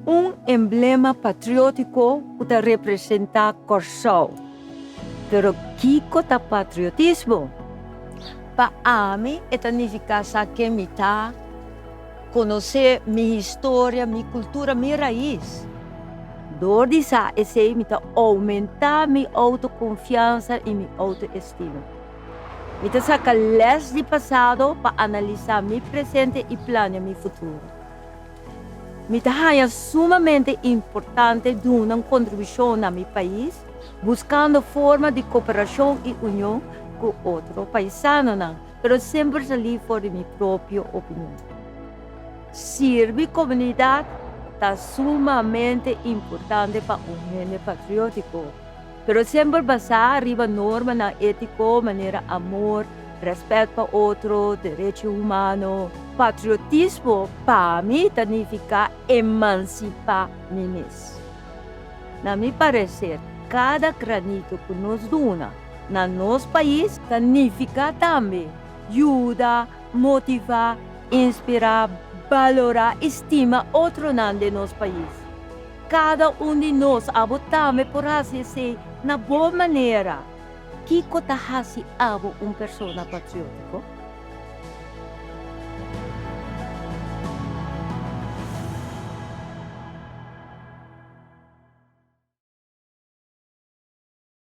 Un emblema patriótiko ku ta representá Kòrsou. Pero kiko ta patriotismo? Pa ami e ta nifiká sa ke mi ta. Conoce mi historia, mi cultura, mi raiz. Door di sa esey mi ta aumenta mi autoconfiansa y mi autoestima. Mi ta saca les di pasado pa analisa mi presente y planea mi futuro. Mi ta haya sumamente importante duna un contribucion na mi pais buscando forma di cooperacion y union cu otro paisanonan. pero semper salí for di mi propio opinion. Sirbi comunidad ta sumamente importante pa un hende patriotico, pero semper basá riba normanan ético manera amor, respet pa otro, derecho humano. Patriotismo pa mi ta nifiká emansipá mi mes. Na mi parecer, cada granito cu nos duna, na nos pais ta nifiká tambe yuda, motivá, inspirá, balorá i stima otronan den nos pais. Kada un di nos abo tambe por hasi esei na bo manera. Kiko ta hasi abo un persona patriótiko?